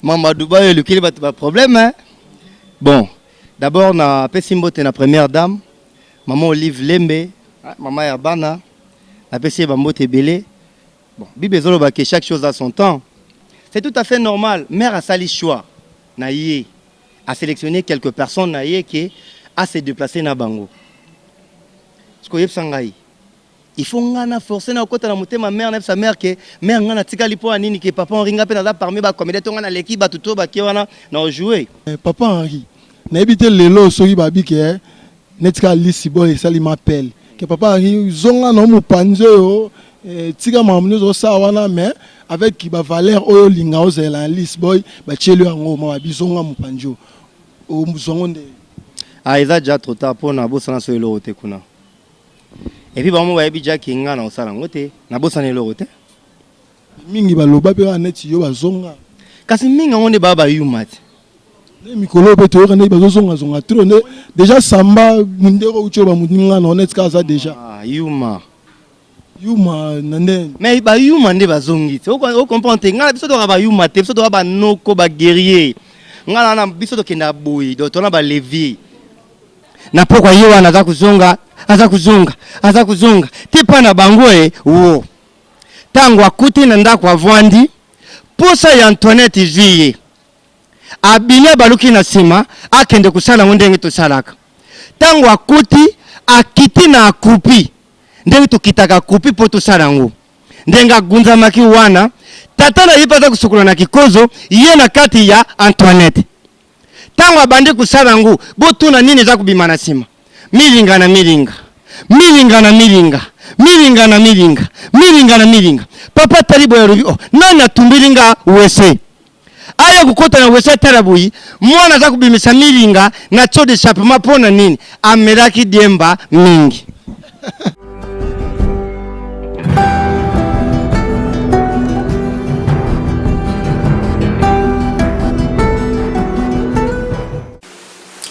Mama Dubai olukeli bato ba problème hein? Bon, d'abord na pesi mbote na première dame maman Olive Lembe, ah, maman ya bana na pesi ye ba mbote ebele. Bon, Bible ezoloba que chaque chose a son temps. C'est tout à fait normal. Mère asali choix na ye a sélectionner quelques personnes na ye que a se déplacer na bango. Sikoyebisa ngai Il faut nga na force na kota na motema mère na yebisa mère que mère nga na tikali pona nini que papa Henri nga pe naza parmi ba comedien to nga na leki batu to bake wana na joue. Eh, papa Henri nayebi te lelo soki babi ke eh, neti ka lisi boye esali ma pelle ke papa Henri zonga na mopanzi oyo eh, tika makambo nyonso osala wana mais avec ba valeur oyo olinga ozela na lisi boy batieli yango ma babi zonga mopanzi oyo ozongo nde ah eza ja trop tard pona bosana so eloko te kuna Epi bango bayebi jaki nga na osala yango te na bosana eloko te mingi baloba mpe wana neti yo bazonga kasi mingi yango nde baa bayuma te nde mikolo oyo mpe toyoka ndenge bazozongazonga tro nde deja samba mundeko uti oyo bamoninga na oneti kaka aza deja ah, yuma yuma na ndenge me bayuma nde bazongi te ocomprendre te ngai na biso toyoka bayuma te biso toyoka banoko baguerrier ngai na biso tokendaka boye tona balevier na pokwa ye wana aza kozonga aza kozonga aza kozonga te mpa na bango e wo ntango akuti na ndako avwandi mposa ya antoinette izwi ye abimi abaluki na nsima akende kosala yango ndenge tosalaka ntango akuti akiti na akupi ndenge tokitaka akupi mpo tosala yango ndenge agunzamaki wana tata na ye mpe aza kosokola na kikozo ye na kati ya antoinette Tango abandi kosala yango botuna nini eza kobima na sima? Milinga na milinga. Milinga na milinga. Milinga na milinga. Milinga na milinga. Papa atali boye alobi oh nani atumbeli nga wese? Aya kokota na wese atala boye mwana aza kobimisa milinga na tso d'echappement pona nini? Amelaki diemba mingi.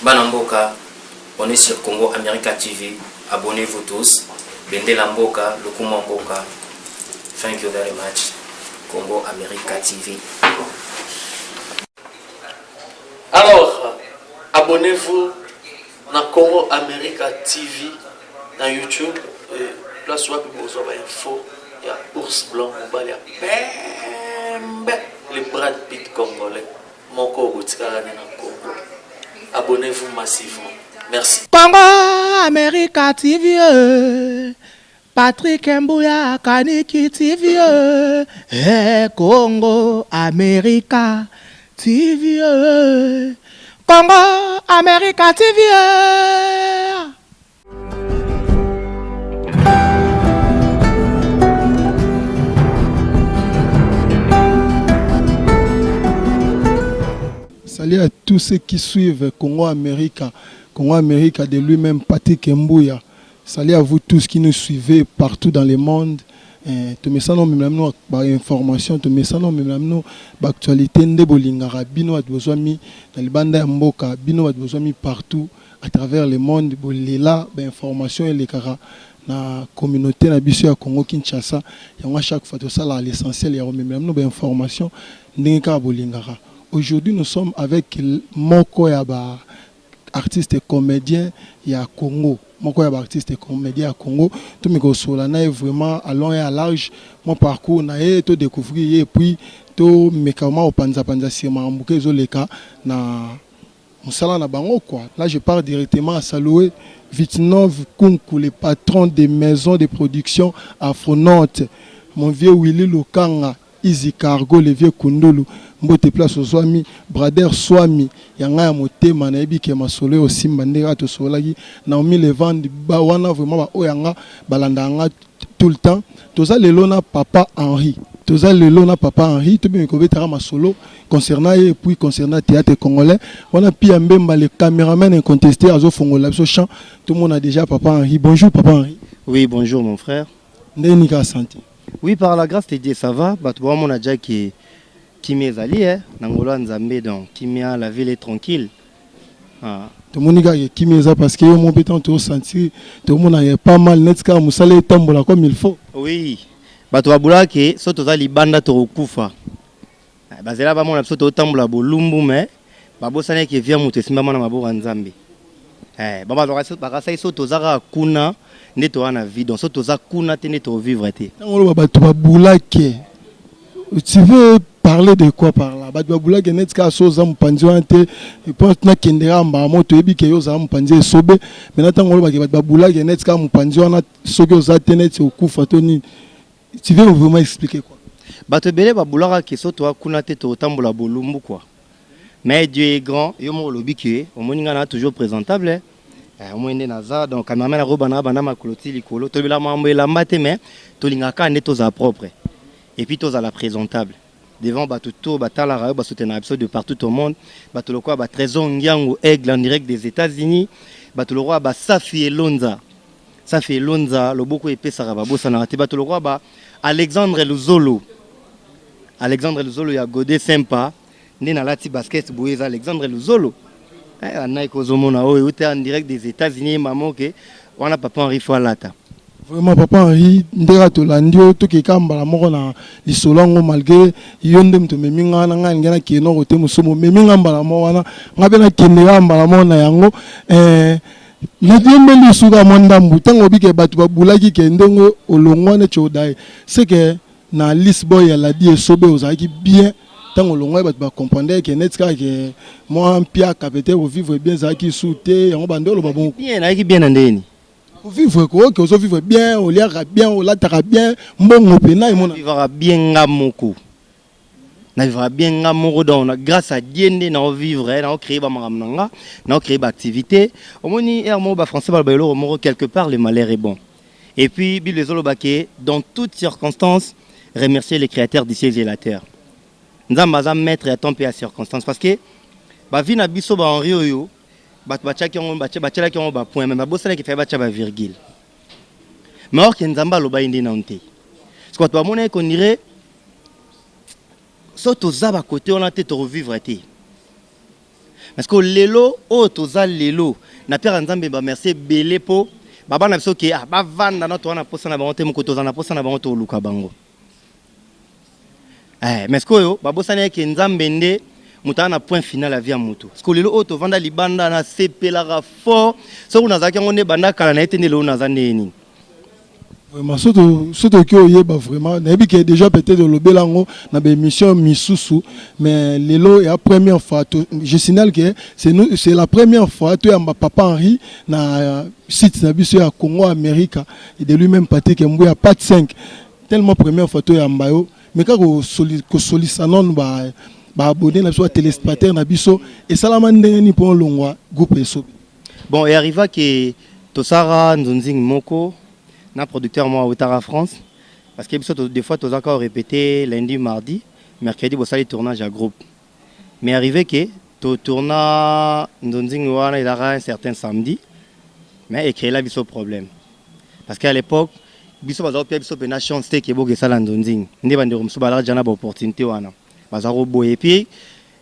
bana mboka on est sur congo america tv abonnez vous tous bendela mboka lokuma mboka thank you very much congo america tv alors abonnez vous Na Congo America TV na YouTube eh, place wapi bozwa ba info ya ours blanc mobali ya pembe le Brad Pitt congolais moko botikaka ne na Congo. Abonnez-vous massivement. Merci. Congo America TV. Eh. Patrick Mbuya Kaniki TV eh Congo America TV eh Congo America TV eh Salut à tous ceux qui suivent Congo America, Congo America de lui-même Patrick Mbuya. Salut à vous tous qui nous suivez partout dans le monde tomesana omemela bino ba information tomesana omemela bino ba actualité nde bolingaka bino bato bozwami na libanda ya mboka bino bato bozwami partout à travers le monde bolela ba information elekaka na communauté na biso ya Congo Kinshasa yango chaque fois tosalaka l'essentiel ya komemela bino ba information ndenge kaka bolingaka aujourd'hui nous sommes avec moko ya ba artiste comedien ya Congo moko ya ba artiste comedien ya Congo to mi ko sola na ye vraiment à long et à large mwa parcours na ye to decouvrir ye puis to meka vraiment ko panza panza sur makambo ke ezo leka na musala na bango quoi. Là je pars directement à saluer Vitnov Kunku le patron de maison de production Afronaute mon vieux Willy Lokanga Easy cargo le vieux kundulu mbote place ozuami brader suami ya nga ya motema na yebi ke masolo eko simba nde kaka tosololaki naomi levand ba wana vraiment ba oyo ya nga ba landaka nga tout le temps toza lelo na papa henri toza lelo na papa henri to bimi ko beta ka masolo concernant ye puis concernant theatre congolais wana pia mbemba le cameraman inconteste azo fongolela biso champ to mona dejà papa henri bonjour papa henri. Oui bonjour mon frère. Ndenge nini kaka sante? Oui par la grace de Dieu ça va batu bao mona dja que kimia ezali eh na ngolu ya nzambe donc kimia la ville est tranquille ah. tomoni kaka ke kimia eza parce que yo moko mpe ntango tozosentir tomonaka epa mal neti kaka mosala etambola comme il faut oui bato babulaka ke so toza libanda tokokufa Bazela bamona biso totambola bolumbu me babosani ke via moto esimbama na maboko ya Nzambe. Eh, bakasaki so toza kaka kuna nde toza na vie donc so toza kuna te nde tovivre te. Ntango oloba bato babulake tu veux parler de quoi par là bato babulake neti kaka so oza mopanzi wana te mpo nakende kaka mbala moko toyebi ke yo ozala mopanzi ya esobe maintenant ntango olobake bato babulake neti kaka mopanzi wana soki oza te neti okufa to nini Tu veux vraiment expliquer quoi? Bato ebele ba boulaka que soki toya kuna te toko tambola bolumbu quoi. Mais Dieu est grand, yo moko olobi que omoni nga naza toujours presentable, eh omoni nde naza donc cameraman ako yeba nanga banda makolo ti likolo. Tolobelaka makambo ya elamba te mais tolingaka kaka nde tozala propre et puis tozala presentable. devant batu tout ba talaka yo ba soutenaka biso de partout au monde batu lokola ba trésor ngiangu aigle en direct des etats unis batu lokola ba safi elonza safi elonza loboko epesaka babosanaka te batu lokola ba alexandre luzolo alexandre luzolo ya gode sempa nde nalati basket boye eza alexandre luzolo Eh, ba Nike ozomona oyo euta en direct des États-Unis maman ke wana papa Henri faut alata. vraiment papa henri ndenge tolandi yo tokeka mbala moko na lisolo yango malgre yo nde moto omemi ngai wana ngai alingi nakende na kote mosusu momemi ngai mbala moko wana ngai mpe nakende kaka mbala moko na yango eh, nadiembeli osuka mwa ndambu ntango obike bato babulaki ke ndenge olongwa neti odaye seke na liste boy ya ladi esobe ozalaki bien ntango olongwaki bato bacomprendre ke neti kaka ke mwa mpiaka peut-être kovivre bien ezalaki su te yango bande oloba bongo bien nayaki bien na ndeni kovivre kooke ozovivre bien oliaka bien olataka bien mbongo mpena emona vivaka bien nga moko na vivaka bien nga moko donc na grâce à dieu nde nao vivre eh, nao créer bamakambo na nga nao créer baactivité omoni ere moko bafrançais baloba eloko moko quelque part le malheur est bon Et puis Bible ezoloba ke dans toutes circonstances remercier le créateur du ciel et la terre. Nzambe aza maître ya temps mpe ya circonstance parce que ba vie na biso ba Henri oyo bato batiaki yango batielaki yango ba point mais babosanaki fai batia ba virgule mais or ke Nzambe alobaki nde nanu te parce que bato bamonaki qu'on dirait so toza ba côté wana te toko vivre te Mais siko lelo oyo toza lelo na piaka nzambe ba merci ebele po ba bana biso ke ah ba vanda na toza na posa na bango te moko toza na posa na bango toluka bango eh mais siko oyo ba bosani yake nzambe nde moto na point final ya vie ya moto siko lelo oyo tovanda libanda na sepelaka fort soki nazalaki yango nde banda kala na ye te nde lelo naza ndenge nini Vraiment soto soto ki oyeba vraiment na yebi que déjà peut-être olobela ngo na ba émission misusu mais lelo ya première fois to, je signale que c'est nous c'est la première fois to yamba papa Henri na site na biso ya Congo America et de lui-même Patrick Mbuya part 5 tellement première fois to yamba yo mais kaka ko soli ko solisa non ba ba abonné na biso ba téléspectateurs na biso esalama ndenge ni po longwa groupe esobe Bon e arriva que tosaka nzunzing moko na producteur moko awutaka France parce que biso des fois tozaka ko repeter lundi mardi mercredi bosali tournage ya groupe mais arrive que to tourna nzunzing wana ezalaka un certain samedi mais e creela biso problème parce que à l'epoque biso baza kopia biso pena chance te ke bokesala nzunzing nde bandeko mosusu balaka deja na ba opportunité wana baza koboya et puis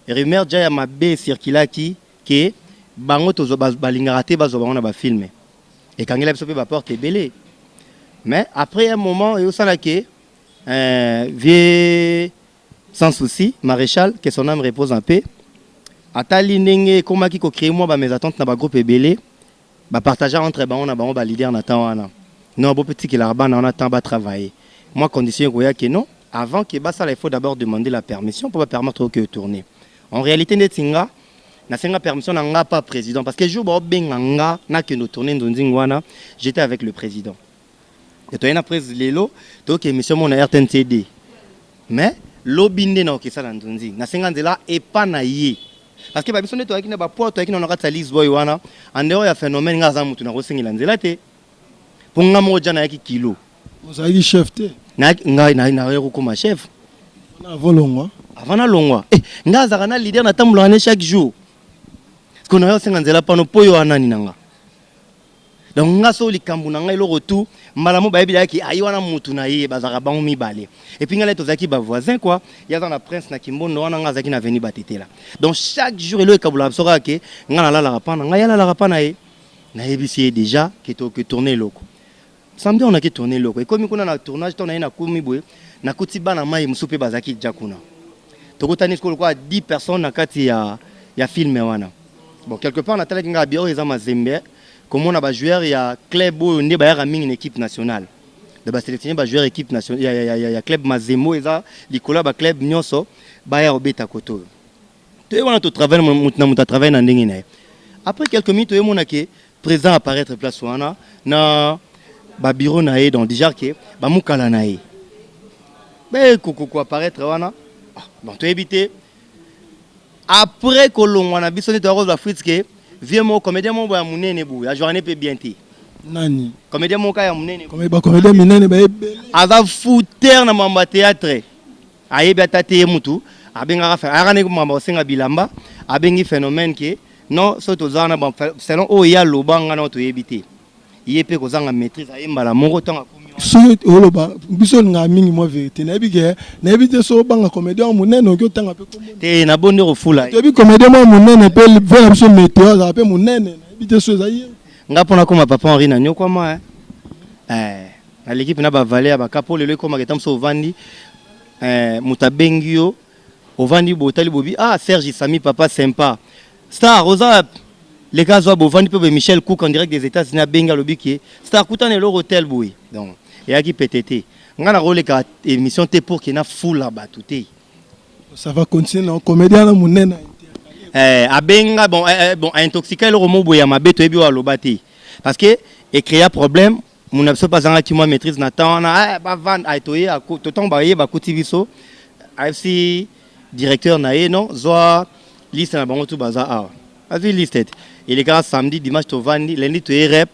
rumeur deja ya mabe circulaki que bango tozwa ba balingaka te bazwa bango na ba films ekangela biso pe ba porte ebele mais après un moment eosala que euh, vieux sans souci maréchal que son âme repose en paix atali ndenge ekomaki ko créer mwa ba mésentente na ba groupe ebele Ba partagea entre bango na bango ba leader na temps wana. Non bo pe tikelaka bana wana temps ba travailler. Mua condition ekoya que non avant que ba sala il faut d'abord demander la permission po ba permettre yo que o tourner. En realite ndeti nga na senga permission na nga pa president parce que jour bao benga nga na kende o tourner nzonzing wana j'etais avec le president. toye na presse lelo toyoki emission moko na rtncd mais lobi nde na okesa na nzunzi nasenga nzela epa na ye parce que ba biso nde toyaki na ba poids toyaki na na kati ya lise boy wana en dehors ya phénomène nga aza mutu na kosengela nzela te mpo nga moko jana yaki kilo ozalaki chef te ngai naye kokoma chef avant longwa avant na longwa eh, nga azalaka na leader na tambolaka ne chaque jour siko nayo osenga nzela pano mpo yo anani na nga donc nga so likambo na nga eloko tout mbala mo bayebi dayaki ayi wana mutu na ye bazalaka bango mibale epuis nga naye tozalaki bavoisin kua ye aza na prince na kimbondo wana nga azalaki na veni batetela donc chaque jour eloko ekabolaka biso kaka ke nga nalalaka pa na nga ye alalaka pa na ye nayebisi ye deja ke toke tourne eloko Samedi on a ki tourner loko. Ekomi kuna na tournage to na ye na kumi boye na kuti bana mayi musu pe bazaki ja kuna. Tokutani siko lokola 10 personnes na kati ya ya film wana. Bon quelque part na talaki nga bien oyo eza mazembe komona ba joueurs ya club oyo nde bayaka mingi na equipe nationale. Donc ba selectionner ba joueurs equipe nationale ya ya ya ya club mazembe oyo eza likolo ya ba club nionso baya kobeta kote oyo. toye wana to travail mutu na mutu a travail na ndenge na ye après quelques minutes toye mona ke président apparaître place wana na ba bureau na ye donc déjà ke ba mukala na ye be ko ko apparaître wana ah, bon toyebi te après kolongwa na biso nde toya kozwa frite ke vieux moko comédien moko ya monene boye ya journée mpe bien te nani comédien moko ya monene bacomédien minene baye aza fouteur na mambo ya théâtre Ayebi ata te ye mutu abengaka fe ayaka nde makambo kosenga bilamba abengi phenomène ke non so toza wana ba selon oyo ye aloba nga na yo toyebi te ye mpe kozanga maîtrise aye mbala moko ntango akomi wana soki oloba biso olingaka mingi mwa verite nayebi ke nayebi te soki obanga comédien mwa monene oki otanga mpe kombo te na bo nde kofula ye toyebi comédien mwa monene mpe vie na biso meteo azalaka mpe monene nayebi te soki eza ye nga mpo nakoma papa henri naniokwama eh. Naleki pena ba valeur ya ba cas po lelo ekomaka etango mosusu ovandi eh, moto abengi yo ovandi botali bobi ah Serge Sami papa sympa star oza wapi leka azwa bovandi mpe boye Michel Cook en direct des États-Unis abengi alobi ke star kutana eloko tel boye donc eyaki pete te ngai nakoleka émission te pour ke nafula bato te Ça va continuer na comédien na monene. eh, abenga bon, eh, eh, bon aintoxika eloko moko boye ya mabe toyebi oyo aloba te parce que ecrea problème muna biso mpe azangaki mwa maîtrise na temps wana eh, bavanda eh, toye totango baye bakuti biso ayebisi directeur na ye non zwa liste na bango tu baza awa azwi liste ete elekaka samedi dimanche tovandi lundi toye rep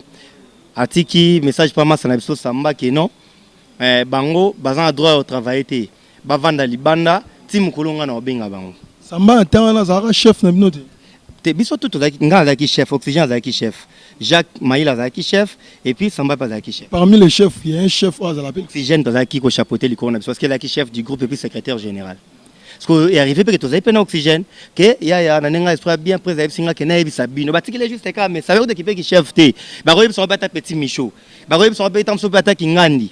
atiki message mpa masa na biso samba ke non eh, bango baza na droit ya kotravaille te Ba vanda libanda ti mukolo nga nao benga bango. Samba ya temps wana azalaka chef na bino te? Te biso tout tozalaki nga nazalaki chef oxygène azalaki chef Jacques mayila azalaki chef et puis samba pe azalaki chef. Parmi les chefs il ya un chef oyo azalaka pe. Oxygène tozalaki ko chapeauter likolo na biso parce que azalaki chef du groupe et puis secretaire general sikoyo e arrive pe ke tozali pe na oxygène ke yaya na ndenge nga esprit ya bien president ayebisi nga ke nayebisa bino batikeli ye juste kaka mais ça veut dire que ki pe ki chef te bakoyebisa ngo pe ata petit michaud bakoyebisa ngo pe ata mosusu pe ata kingandi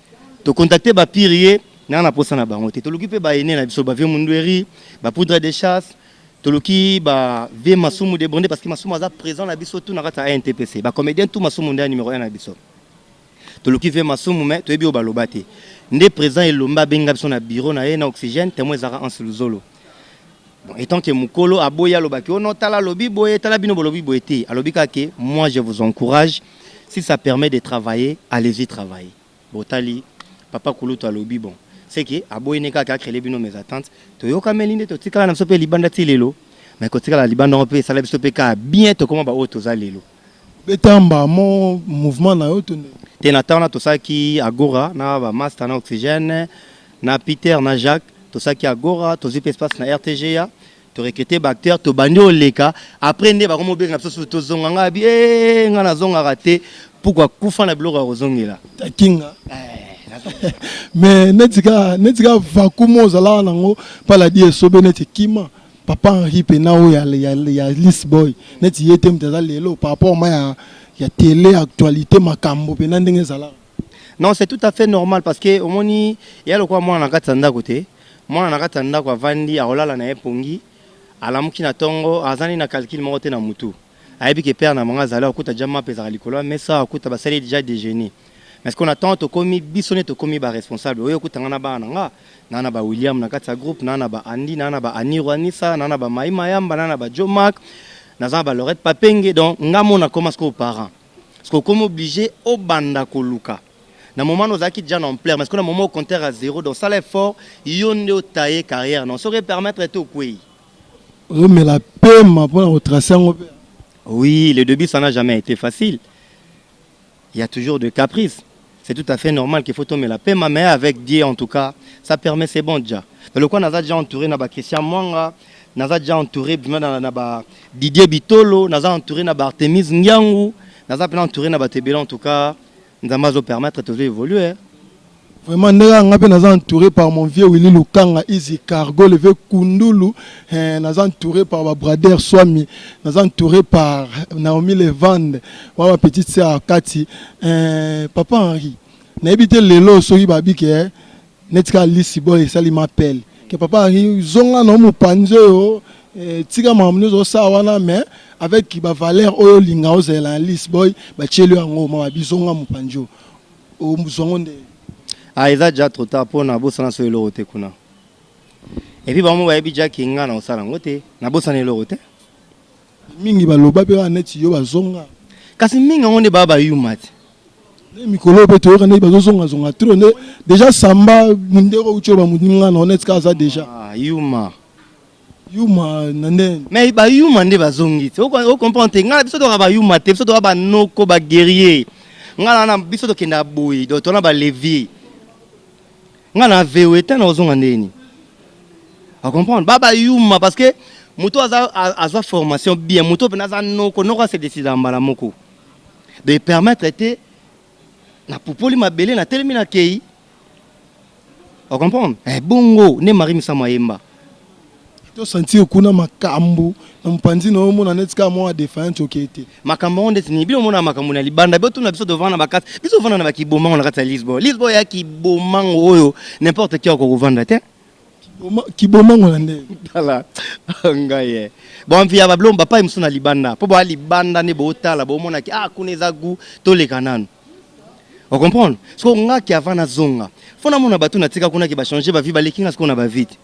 to contacter ba pirier na na posa na bango te toluki pe ba aînés na biso ba vieux mundueri ba poudre de chasse toluki ba vieux masumu de bonde parce que masumu aza présent na biso tout na kati ya ANTPC ba comédien tout masumu nde numéro 1 na biso toluki vieux masumu mais toyebi oyo baloba te nde président elombe abenga biso na bureau na ye na oxygène temo ezalaka anse luzolo Bon, étant que Mukolo a boya aloba que oh non tala lobi boye tala bino bolobi boye te alobi ka que moi je vous encourage si ça permet de travailler allez-y travailler botali papa kulutu alobi bon c'est que a boye ne ka ka créer bino mes attentes to yoka melinde to tikala na sope libanda ti lelo mais ko tikala libanda on peut ça la sope ka bien to comment ba autres za lelo Obeta mbaa mo mouvement na yo to ndenge? Te na temps wana tosalaki Agora na ba masta na Oxygène na Peter na Jacques tosalaki Agora tozui pe espace na RTGA to recruter ba acteurs tobandi koleka après nde bakomi kobenga biso susu tozonga ngai abi eeee ngai nazongaka te pukua kufa na biloko ya kozongela Takinga mais neti kaka neti kaka vacuum oyo ozalaka na yango paladi esobe neti ekima papa Henri mpe na oyo ya, ya, ya Liss Boy neti ye te moto aza lelo par rapport ma ya, ya tele actualité makambo mpe na ndenge ezalaka non c'est tout à fait normal parce que omoni ya lokola mwana na kati ya ndako te mwana na kati ya ndako avandi akolala na ye pongi alamuki na ntongo azali na calcul moko te na mutu Ayebi que père na bango azali ako kuta dejà mapa ezalaka likolo ya mesa ako kuta ba sali dejà dejeuner mais sikoyo na temps tokomi biso nde tokomi ba responsable oye okuta nga na bana na nga na na ba William na kati ya groupe na na ba Andy na na ba Aniru Anisa na na ba Mayi Mayamba na na ba Djo Mack naza na ba Laurette Papenge donc nga moko na koma sikoyo parent sikoyo okomi oblige obanda koluka na moment wana ozalaki dejà na ampleur mais sikoyo na moment oyo compteur ya zero donc sala effort yo nde o tailler carrière na yo soki e permettre te okweyi. Ozo mela pema pona ko tracer yango pe. Oui, le debut ça n'a jamais été facile. Il y a toujours de caprices. C'est tout à fait normal qu'il faut tomela pema mais avec Dieu en tout cas, ça permet c'est bon déjà. Mais le quoi naza déjà entouré na ba Christian Mwanga, naza déjà entouré bima na, na ba Didier Bitolo, naza entouré na ba Artemis Ngiangu, naza pena entouré na ba Tebela en tout cas. Nzambe azo permettre tozo evoluer. Vraiment ndenge nga pe naza entouré par mon vieux Willy Lukanga Easy Cargo le vieux Kundulu eh, naza entouré par ba brader Swami naza entouré par Naomi Levande wa ba petite sœur Kati eh, papa Henri nayebi te lelo soki babike eh, Neti kaka lisi boye esali ma pelle que papa Henri zonga na mopanzi oyo eh, tika makambo nioso osala wana mais avec ba valeur oyo olinga ozela na lisi boy batieli yango ma babi zonga mopanzi oyo ozwango nde ah eza déjà trop tard mpo nabosana so eloko te kuna epuis bango bayebi jaki ngai na kosala yango te nabosana eloko te Mingi ba loba pe wana neti yo ba zonga. Kasi mingi yango nde ba ba yuma te. Nde mikolo oyo pe toyoka neti ba zo zonga zonga trop nde dejà samba mundeko utsho ba muninga na neti ka aza dejà. Ah yuma. Yuma na nde. Mais ba yuma nde ba zongi te o comprendre te nga biso to ka ba yuma te biso to ka ba noko ba guerrier nga na biso to kenda boye donc to na ba levier. nga na veo eteint na ozonga ndenge nini a comprendre ba ba yuma parce que moto aza azwa formation bien moto mpena aza noko noko ase décida mbala moko de permettre te na pupoli mabele na telemi na kei a comprendre eh bongo nde marie misamu ayemba To sentir kuna makambu na mopanzi na yo omona neti kaka mwa defiant okei te makambo yango ndeti nini bino omonaka makambo na libanda biotuna biso tovanda na bakati biso ovanda na bakibomango na kati ya lisbo lisbo ya kibomango oyo n'importe qui akoka kovanda te Kiboma- kibomango na ndenge tala ngai ye boanvi ya bablo bapai mosusu na libanda mpo boa libanda nde bootala bomonaki ah kuna eza gu toleka nanu O comprendre? Sikoyo nga ki avant nazonga, faut namona batu natika kuna ki ba changer ba vie, baleki nga sikoyo na ba vie te.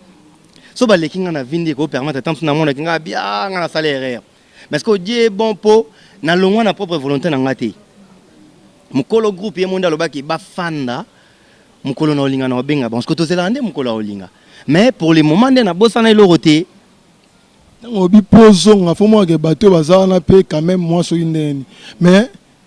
Soki baleki nga na vie nde eko permettre ata mosusu namona ki nga bien ah nga nasala erreur. Mais sikoyo Dieu est bon po nalongwa na propre volonte na nga te. Mokolo groupe ye moko nde alobaki bafanda mokolo na olinga na obenga bango sikoyo tozelaka nde mokolo ya olinga mais pour le moment nde nabosana eloko te ntango obi po ozonga fo monake bato oyo baza wana mpe quand même mwa soki ndeni mais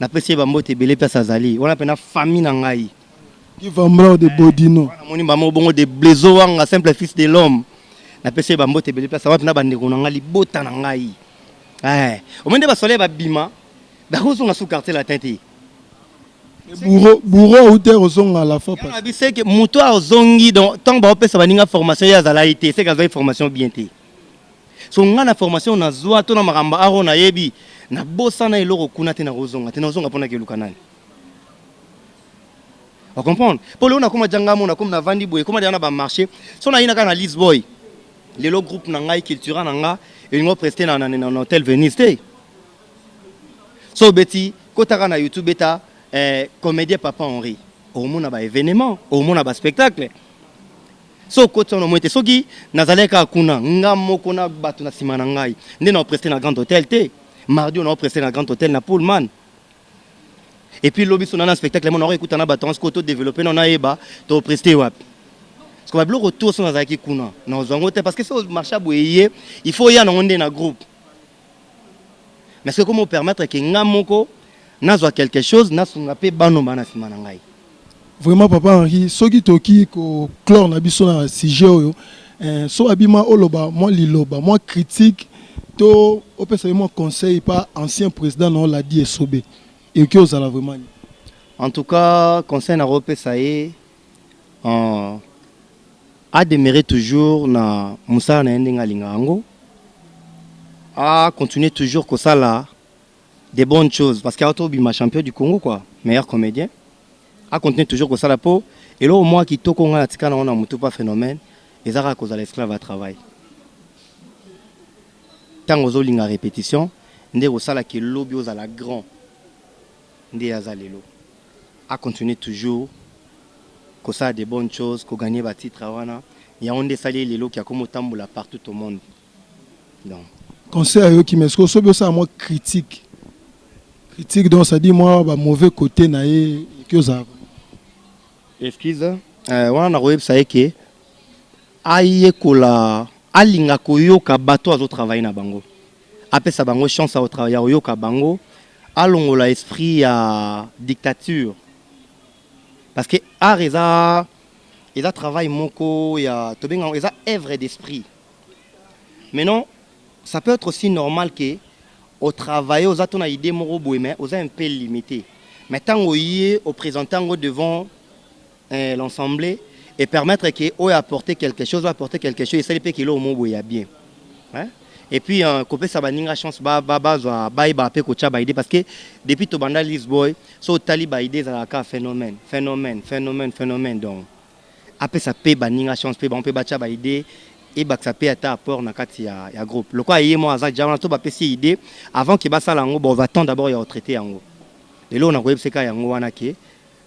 na pesi ye ba mbote ebele place azali wana pena famille na ngai qui va mort de bodino na moni mama obongo de blezo wanga simple fils de l'homme na pesi ye ba mbote ebele place wana pena ba ndeko na ngai libota na ngai eh omoni nde ba soleil ba bima ba kozonga sous quartier latin te bouro bouro auta ekozonga la fois passée biseke moto azongi donc ntango baopesa baninga formation ye azalaki te seke azwaki formation bien te So nga na formation oyo nazwa to na makambo art oyo nayebi nabosana eloko kuna te nakozonga te nakozonga mpo nakeluka nani o comprendre mpo lelo nakoma ja ngai mona komi navandi boye ekoma deja na bamarché so nayina kaka na lisboy lelo groupe na ngai cultura na nga elingo preste na, na, na, na hotel venise te so obeti kotaka na youtube beta eh, comédien papa henri omona baévénement omona baspectacle so okoti wana omoni te soki nazalaki kaka kuna nga moko na bato na nsima na ngai nde naopreste na grand hôtel te mardi oyo naopreste na grand hôtel na pullman epuis lobi so nana spectacle mo naoka ekuta na bato yango sikoyo todeveloppe nao nayeba topreste wapi siko babiloko to so nazalaki kuna naozwa yango te parce que so marché ya boye ye il faut oya nango nde na groupe mais soki ekomi opermettre ke nga moko nazwa quelque chose nasunga mpe bano bana nsima na ngai Vraiment papa Henri soki toki ko clore na biso na sujet oyo eh, so abima oloba mwa liloba mwa critique to opesa ye mwa conseil pa ancien president na yo Ladi Esobe ekoki ozala vraiment nini? En tout cas conseil nakopesa ye Ahh a demeure toujours na musala naye ndenge alingaka yango a continue toujours kosala de bonne chose parce que awuti kobima champion du Congo quoi meilleur comedien a continue toujours kosala po eloko mua kitoko oyo nga na tika nango na mutu pa phenomène eza kaka kozala esclave ya travail tangu ozo linga repetition nde kosala que lobi ozala grand nde ye aza lelo. A continuer toujours kosala des bonnes choses, ko gagner ba titres wana, yango nde esali ye lelo ke akomi kotambola partout au monde. Donc. Conseil ayoki mais sikoyo soki osala mwa critique, critique donc c'est à dire mwa ba mauvais cotes na ye ekoki ozala vraiment. Excuse, eh, wana nakoyebisa ye ke ayekola, alinga koyoka bato oyo azo travailler na bango, apesa bango chance ya koyoka bango, Alongola esprit ya dictature parce que art eza eza travail moko ya tobenga yango eza œuvre d'esprit maintenant ça peut être aussi normal que au travail oza to na idée moko boye mais oza un peu limité mais tango ye au présenter yango devant Eh l'ensemble et permettre que oyo apporter quelque chose oyo apporter quelque chose esali pe kilo omo boye ya bien hein et puis euh, kopesa baninga chance ba ba bazwa bayeba pe kotia ba idée parce que depuis tobanda Liz Boy so otali ba idée ezalaka phénomène phénomène phénomène phénomène donc apesa pe baninga chance pe bango pe batia ba idée ebakisa pe ata apport na kati ya, ya groupe lokola ye mwa aza jawana to bapesi ye idée avant ke basala yango bon va temps d'abord ya retraite yango lelo nakoyebiseka yango wana ke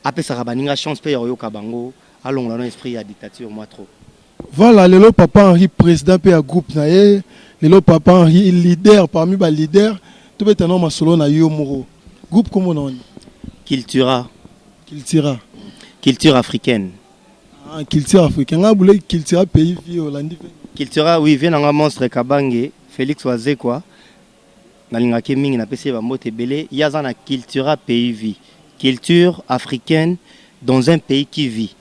Apesaka baninga chance pe ya koyoka bango, alongola no esprit ya dictature mwa trop. Voila lelo papa Henri president pe ya groupe na ye lelo papa Henri leader parmi ba leader tobeta nao masolo na yo moko groupe kombo nao nini? Cultura. Cultura. Culture africaine. Ah culture africaine nga bule cultura pays vie olandi vie nini? Cultura oui vie na nga monstre kabange Felix wazekwa. Nalingaka ye mingi napesi ye ba mbote ebele ye aza na cultura pays vie culture africaine dans un pays qui vie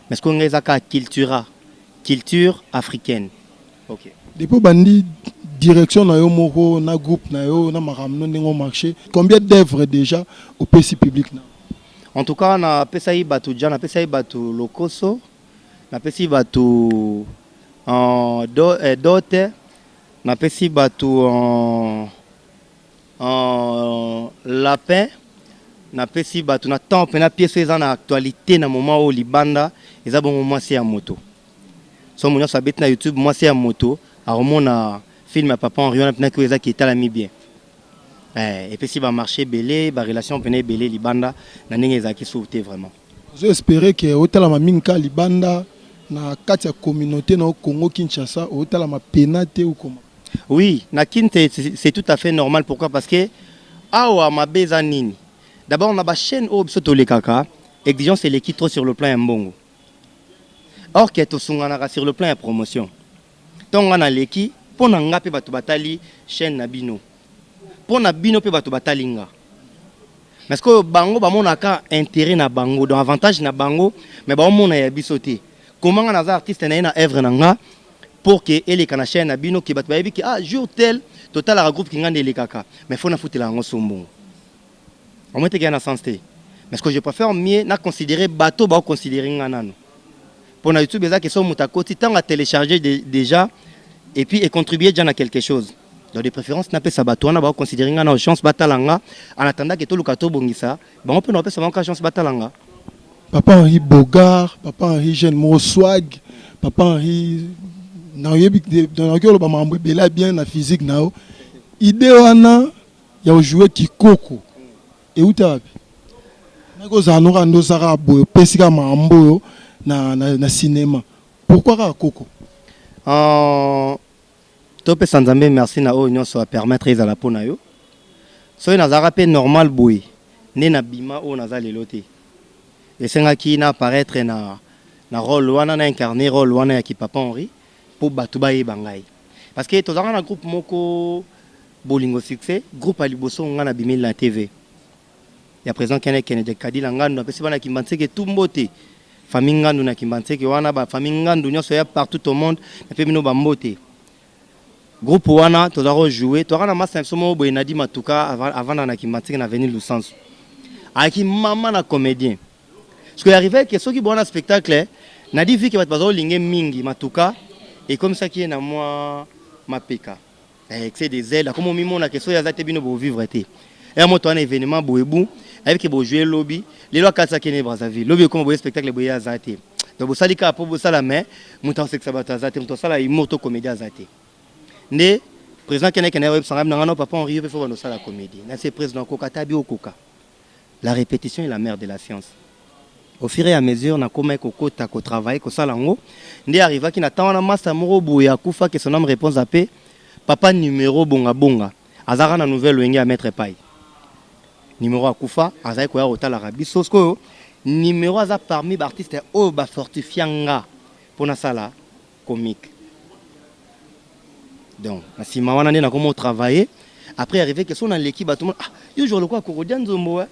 mais sikoyo ngai eza kaka cultura culture africaine ok. Depuis obandi direction na yo moko na groupe na yo na makambo no ndenge o marche combien d'oeuvres dejà opesi public na. En tout cas na pesaki batu dja na pesaki batu lokoso na pesi batu en dote. Napesi batu lapin, napesi batu na temps pena pièce oyo eza na actualite na moment oyo libanda eza bongo mwasi ya moto. Somo nionso abeti na YouTube mwasi ya moto akomona film ya papa Henri wana pena ki oyo eza ki etalami bien. Eh, epesi ba marche ebele, ba relation pena ebele libanda na ndenge ezalaki sur te vraiment. Nazo esperer que otalama mingi kaka libanda na kati ya communaute na yo Congo Kinshasa otalama pena te ou comment? Oui na kin c'est tout à fait normal pourquoi parce que awa mabe eza nini d'abord na ba chaine oyo biso tolekaka exigence eleki trop sur le plan ya mbongo or que tosunganaka sur le plan ya promotion tango nga naleki mpo na nga mpe bato batali chaine na bino pona bino pe batu batali nga mais sikoyo bango ba mona ka interet na bango donc avantage na bango mais ba omona ya biso te comment nga naza artiste naye na oeuvre na nga pour que eleka na chaine na bino que batu bayebi que ah jour tel totalaka groupe kingandi elekaka mais faut nafutela yango sombongo omoni teke ya na sens te mais ce que je préfère mieux na considérer bato bao considérer nga nanu mpo na youtube eza ke so moto akoti ntango a télécharger de, déjà et puis e contribuer déjà na quelque chose donc de préférence napesa bato wana bao considérer nga nao chance batala nga en attendant ke toluka tobongisa bango mpe naopesa bango ka chance batala nga papa henri bogar papa henri jeune moko swag papa henri nayebi nayoki oloba makambo ebele ya bien na physique na yo idée wana ya o jouer kikoko ewuta wapi? Naki ozala no kaka nde oza kaka boye opesi kaka makambo oyo na, na, na cinema pourquoi kaka koko? Uh, topesa nzambe merci na oyo nyonso a permettre ezala mpo na yo soki nazalaka mpe normal boye nde na bima oyo naza lelo te esengaki na apparaître na, na role wana na incarne role wana ya kipapa henri mpo bato bayeba ngai parce que tozalaka na groupe moko Bolingo succès groupe ya liboso nga na bimeli na TV ya president Kene Kene de Kadila Ngandu na pesi bana Kimbanseke tout mbote famille Ngandu na Kimbanseke wana ba famille Ngandu nionso ya partout au monde na pesi bino ba mbote groupe wana toza ko jouer toaka na masta na biso moko boye Nadi Matuka avanda na Kimbanseke na avenue Lusansu ayaki mama na comedien ce que arrive que soki boana spectacle Nadi vike bato bazo linge mingi Matuka ekomisaki ye na mwa mapeka Eh, excès de zèle akoma omimona ke soki aza te bino bovivre te ya moto wana événement boebu ayebi ke bojoue lobi lelo akalisa kene brazzaville lobi ekoma boye spectacle boye aza te donc bosali kaka mpo bosala mais moto akosekisa bato aza te moto asala humour to comédie aza te nde président kene kende oyebisa ngai na ngai no papa henri yo mpe fo banda osala comédie na se président okoka ata bi okoka la répétition est la mère de la science Au fur et à mesure na komaki ko kota ko travailler ko sala yango nde arrivaki na temps wana masta moko boye akufa que son ame repose en paix papa numero bonga bonga azalaka na nouvelle wenge ya maitre epayi numero akufa azalaki koya kotalaka biso sikoyo numero aza parmi ba artistes oyo ba fortifia nga mpo nasala comique donc na nsima wana nde nakomi otravailler après arrive que so naleki bato mona ah yo jour lokola korodia nzombo eh?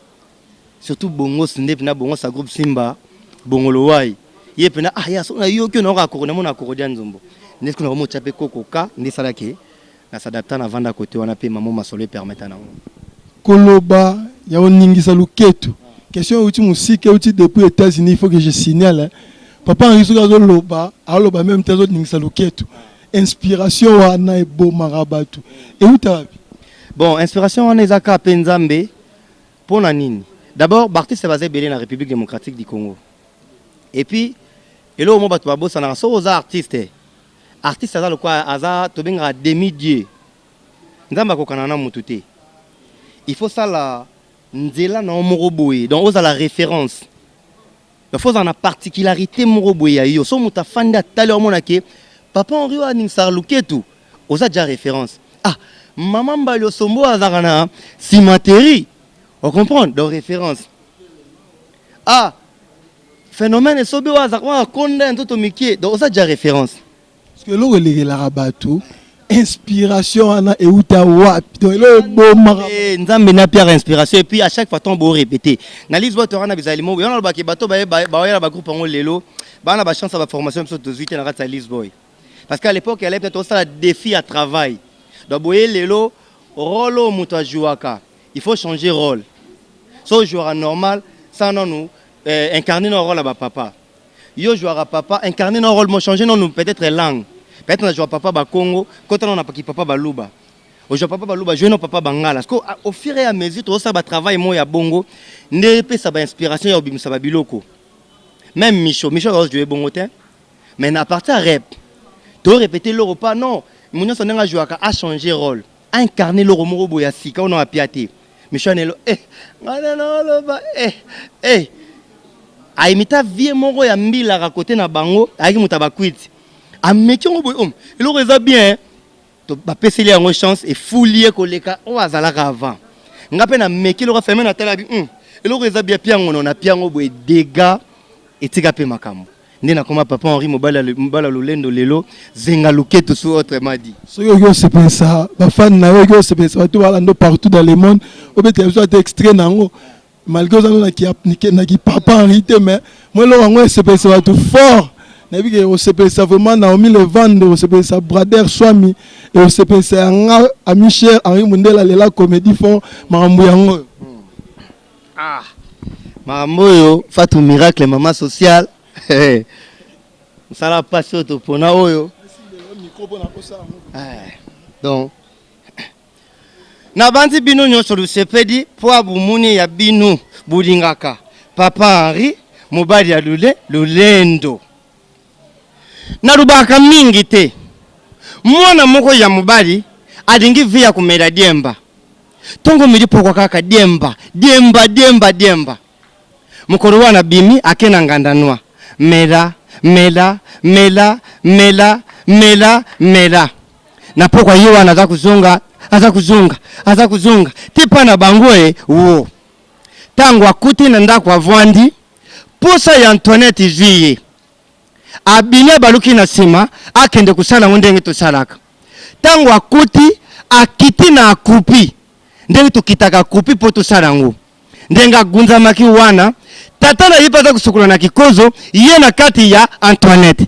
Surtout bongos ndepi na bongos a groupe simba bongolo wai ye pena ah ya sona yo kyo na oka koko na mona koko dia nzombo ndepi kuna omo chape koko ka nde sala ke na s'adapta na vanda kote wana pe mamo masolo e permeta na ngo koloba ya oningisa luketu question euti musika euti depuis etats unis faut que je signale papa henri soki azo loba azo loba meme te azo ningisa luketu inspiration wana ebomaka batu euta wapi bon inspiration wana eza ka pe nzambe Pona nini? D'abord ba artistes baza ebele na Republique Democratique du Congo et puis eloko moko batu babosanaka soki oza artiste, artiste aza lokola aza tobengaka demi dieu nzambe akokana na mutu te il faut osala nzela na yo moko boye donc ozala reference. Il faut ozala na particularité moko boye ya yo. So moto afandi atali omona ke papa Henri oyo aningisaka luketu, oza deja reference. Ah maman Mbali Osombo azalaka na cimenterie. O comprendre? Donc reference. Ah phenomène esobe oyo azalaka akonda ya nzoto mikie. Donc oza deja reference. Parce que eloko elekelaka bato inspiration wana euta wapi donc eloko ebomaka Eh, nzambe na pierre inspiration epuis à chaque fois ntango borepete na lise bato wana bizali mobo yango nalobaki bato baye- baye- baoyela bagroupe yango lelo bana bachance ya baformation biso tozwi te na kati ya lise boy parce que à l'époque ya lepta tosala défi ya travail donc boye lelo role oyo moto ajouaka il faut changer role so ojouaka normal sa nanu eh, incarne na role ya bapapa Yo jouaka papa incarne no role mo change no nu peut etre langue peut etre na joua papa ba kongo kota no na ki papa ba luba ojoua papa ba luba joue no papa ba ngala siko au fur et à mesure tozo sala ba travail mo ya bongo nde epesa ba inspiration ya obimisa ba biloko meme micho micho azo joue bongo te mais na partir ya rep to repete eloko pa non munioso ndenge a jouaka a change role incarne eloko moko boye ya sika ona wapia te michanelo eh, nga nde naoloba eh, eh. aimita vie moko ya mbilaka kote na bango ayaki moto ya bakwiti ameki yango boye om oh, eloko eza bien bapeseli yango chance efuli ye koleka oyo azalaka avant nga mpe nameki eloko afeme natalabi hmm, eloko eza bia piangono na piango boye dega etika mpe makambo nde nakoma papa Henri mobali mobala lolendo lelo zenga luketu su autrement dit soki oki osepelisa bafani na yo oki osepelisa bato balando partout dans le monde obetela biso ata extrait na yango malgré oza na kipapa Henri te mais mo eloko yango esepelisa bato fort nayebi ke osepelisa vraiment naomi levande osepelisa brader swami e osepelisa yanga ami cher Henri mundela lela comédie fort makambo yango oyo hmm. Ah makambo oyo Fatou miracle mama social mosala mpasi oyo topona oyo eh, donc nabanzi bino nyonso lusepedi mpo ya bomoni ya bino bolingaka papa henri mobali ya lule lolendo Nalobaka mingi te. Mwana moko ya mobali alingi vie ya komela diemba. Tongo omeli pokwa kaka diemba, diemba, diemba, diemba. Mokolo wana abimi ake na nganda noix. Mela, mela, mela, mela, mela, mela. Na pokwa ye wana aza kozonga, aza kozonga, aza kozonga, ti epai na bango e, woo. Tango akuti na ndako avandi. Posa ya Antoinette ezui ye, abimi abaluki na sima akende kosala yango ndenge tosalaka. Tango akuti, akiti na akupi ndenge tokitaka akupi po tosala yango. Ndenge agunzamaki wana, tata na ye pe aza kosukola na kikozo, ye na kati ya Antoinette.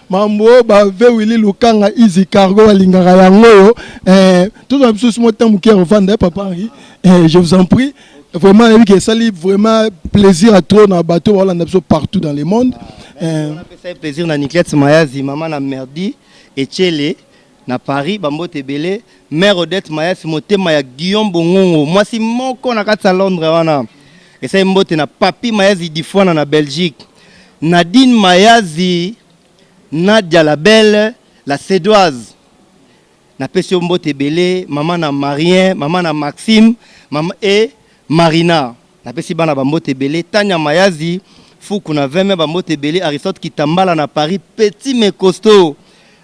mambo oyo ba vewili lukanga izi cargo balingaka yango oyo eh, tozwa biso simo ntango moke ya kovanda eh, papa henri eh, je vous en prie vraiment nayebi ke esali vraiment plaisir à trop na bato baolanda biso partout dans le monde ah, eh, apesaki plaisir na niclette mayazi mama na merdi echele Na Paris, ba mbote ebele. Mère Odette Mayasi, motema ya Guillaume Bongongo, mwasi moko na kati ya Londres wana. Esali mbote na Papy Mayazi Difuana na Belgique. Nadine Mayazi, Nadia la belle, la Sedoise. Napesi yo mbote ebele, mama na Marien, mama na Maxime, mama et Marina. Napesi bana ba mbote ebele, Tanya Mayazi, Fuku na Veme ba mbote ebele, Aristote Kitambala na Paris, Petit mais costaud.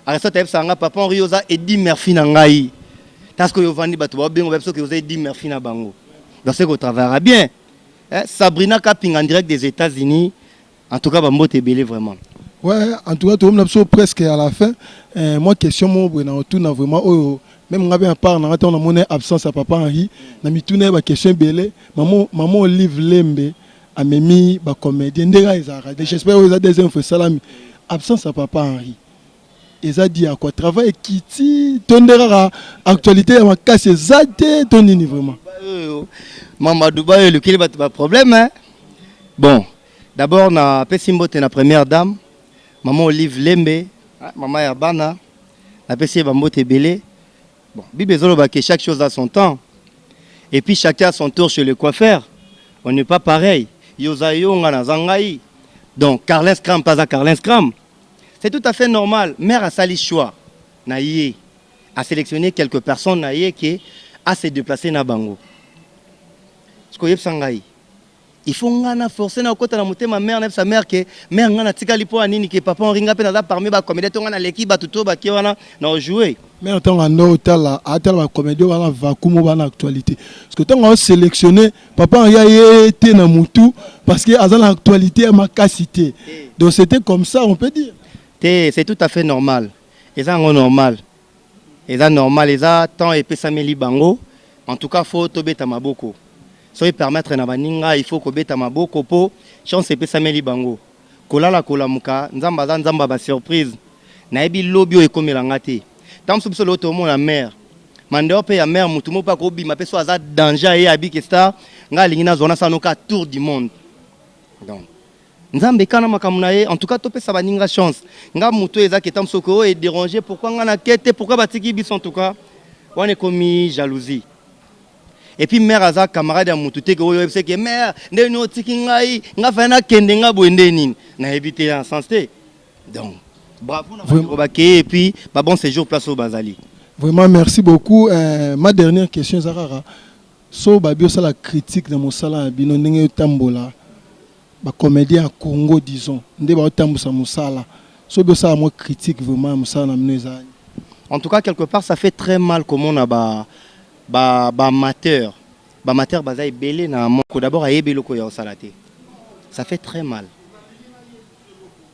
Aristote ayebisaka nga papa Henri yo oza Eddy Murphy na ngai. Ta sikoyo ovandi batu baobenga oyebi soki oza Eddy Murphy na bango. Donc seke o travaillaka bien. Eh, Sabrina Kapinga en direct des Etats-Unis. En tout cas ba mbote ebele vraiment. Ouais, en tout cas tout le monde a presque à la fin. Euh, moi question mon bon en tout na vraiment oh même ngabe à part na on a mon absence à papa Henri, na mituna ba question belé, maman maman Olive Lembe a memi ba comédien ndega ezara. J'espère que vous avez des infos salami. Absence à papa Henri. eza dit ya quoi travail ekiti to nde kaka actualité ya makasi eza te to nini vraiment mamadou bayo elukeli bato baproblème bon D'abord na pesi mbote na première dame maman Olive Lembe, ah, maman ya bana na pesi ba mbote ebele. Bon, Bible ezoloba que chaque chose a son temps. Et puis chacun a son tour chez le coiffeur. On n'est pas pareil. Yoza yonga na zangai. Donc Carlin Scram pas à Carlin Scram. C'est tout à fait normal. Mère a sali choix. Na ye a sélectionné quelques personnes na ye qui a se déplacé na bango. Ce que yebsangai. Il faut nga na forcer na kota na motema mère na sa mère que mère nga na tikali po anini que papa Henri nga pe naza parmi ba comédien to nga na leki batu to ba ke wana na jouer mais en tant que ndo tala atala ba comédien wana vakumo bana actualité parce que tango sélectionner papa Henri ye était na mutu parce que aza na actualité ya makasi te eh. donc c'était comme ça on peut dire te c'est tout à fait normal eza ngo normal Eza normal eza temps epesameli bango en tout cas faut tobeta maboko soki permettre na baninga il faut kobeta maboko po chance epesameli bango kolala kolamuka nzambe aza nzambe ya ba surprise nayebi lobi oyo ekomela nga te tango mosusu biso lelo tomona mère mais en dehors pe ya mère mutu moko pe akobima pe soki aza danger aye abike star nga alingi nazua nasala noka tour du monde donc Nzambe kka na makambo na ye en tout cas to pesa baninga chance nga mutu eza ke tango soki oyo e derange pourquoi nga na ke te pourquoi ba tiki biso en tout cas wana ekomi jalousie et puis mère aza camarade ya mutu te ke oyo oyebisa ke mère nde ni otiki ngai nga fa na kende nga boye nde nini na yebi te en sens te donc bravo na vraiment ba ke et puis ba bon séjour place oyo bazali vraiment merci beaucoup euh, ma dernière question eza kaka so babi osala critique na mosala na bino ndenge yo tambola Ba comediens ya Congo disons nde bazo tambusa musala soki bo sala mwa critique vraiment ya musala na bino eza. En tout cas quelque part ça fait très mal komona ba ba ba amateurs ba amateurs baza ebele na moko d'abord ayebi eloko oyo azo sala te ça fait très mal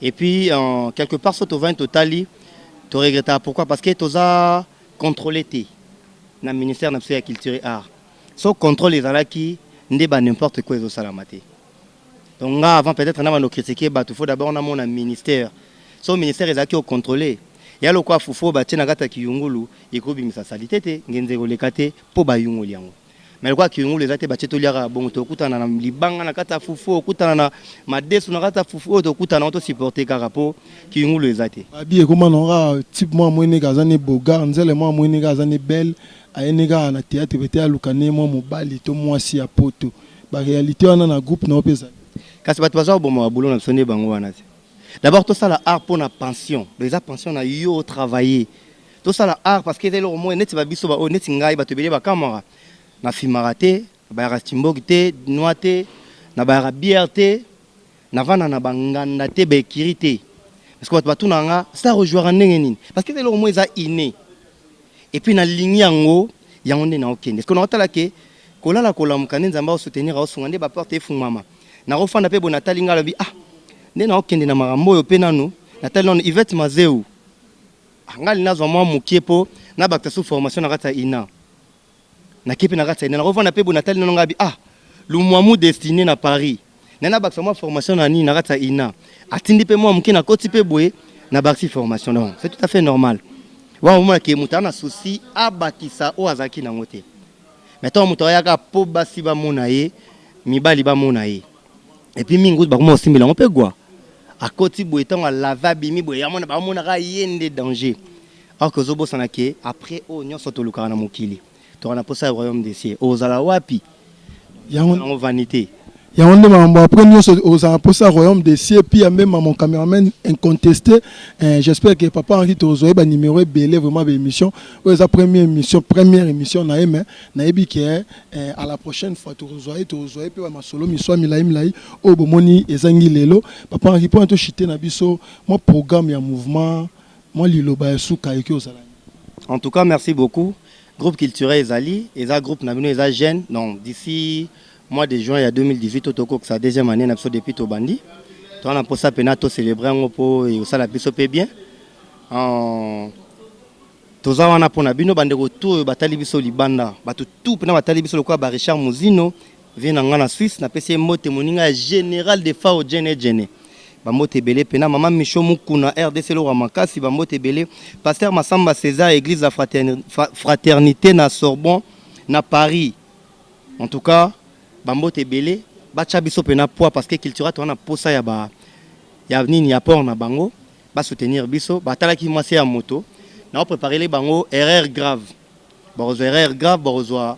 et puis en quelque part soki tovandi totali to regrettaka pourquoi parce que toza controler te na ministère na biso ya culture et arts. Soki controle ezalaki nde ba n'importe quoi ezo salama te. Donc nga avant peut-etre na bando critiquer batu faut d'abord na mona ministère. Soki ministère ezalaki ko controler ya lokola fufu oyo batie na kati ya kiyungulu ekoki bimisa salite te, ngenza ekoleka te po ba yungoli yango. Mais lokola kiyungulu eza te batie tolia kaka bongo toko kutana na libanga na kati ya fufu oyo okutana na madesu na kati ya fufu oyo toko kutana na yango to supporter kaka po kiyungulu eza te. Babi ekoma na ngo kaka type mwa amonini kaka aza ne beaugard, nzele mwa amonini kaka aza ne belle, Aye nde kaka na theatre peut etre aluka nde mwa mobali to mwasi ya poto. Ba realite wana na groupe na yo pe ezali. Kasi batu baza koboma ba boulot na biso nde bango wana te. D'abord tosala art pona pension. Donc eza pension na yo o travailler. Tosala art parce que eza eloko moko neti ba biso ba oyo neti ngai batu ebele ba kamwaka. Na filmaka te. Nabayaka Cimbogi te, Dinois te, nabayaka bière te, navanda na ba nganda te, ba ecuries te. Parce que batu batunaka nga Star ojouaka ndenge nini? Parce que eza eloko moko eza inne et puis nalingi yango, yango nde naokende. Sikoyo naotala que kolala kolamuka nde Nzambe ao soutenir, aosunga nde ba portes efungwama. Nakofanda mpe boye natali ngai nalobi ah nde naokende na makambo oyo mpe nanu natali nanu Yvette Mazewu ah ngai nazwa mwa mukie mpo nabakisa su formation na kati ya INA. na kepe na kati ya nako vanda pe bona tali na ngabi ah lumwamu destiné na Paris na na bakisa mwa formation na nini na kati ya ina atindi pe mwa muke na koti pe boye na bakisi formation donc c'est tout à fait normal wa omona ke mutu na souci abakisa oyo azalaki nango te mais ntango moto ayaka mpo basi bamona ye mibali bamona ye epuis mingi kutu bakoma kosimbela yango mpe gwa akoti boye ntango alave abimi boye amona bamonaka ye nde danger Or que ozo bosana que après oyo nionso tolukaka na mokili toko na posa ya royaume des cieux okozala wapi? Yango yango vanite. Yango nde makambo après nionso okozala na posa ya royaume des cieux pia meme à mon cameraman inconteste eh, j'espère que papa Henri tozwa ye ba numero ebele vraiment ba émission oyo eza première émission première émission na ye mais nayebi que eh, à la prochaine fois tokozwa ye tokozwa ye pe ba masolo miswa milai milai oyo bomoni ezangi lelo papa Henri pona to chite na biso mwa programme ya mouvement Mwa liloba ya suka eki ozala nini? En tout cas merci beaucoup groupe culturel ezali eza groupe na bino eza jeune donc d'ici mois de juin ya 2018 to tokokisa deuxième année na biso depuis tobandi toza na mposa mpena to célébrer yango mpo ekosala biso mpe bien en toza wana mpo na bino bandeko tu oyo batali biso libanda bato tu mpena batali biso lokola ba richard muzino Vieux na nga na Suisse na pesi ye mbote moninga ya General de Fao Djene Djene. Ba mbote ebele pena mama Micho Mukuna rdc eloko ya makasi ba mbote ebele Pasteur Massamba Cesar Eglise la Fraterni- Fra- Fraternite na Sorbon na Paris. En tout cas ba mbote ebele batia biso pena poids parce que cultura toza na posa ya ba ya nini ya port na bango ba soutenir biso batalaki mwasi ya moto na preparele bango erreur grave bakozwa erreur grave bakozwa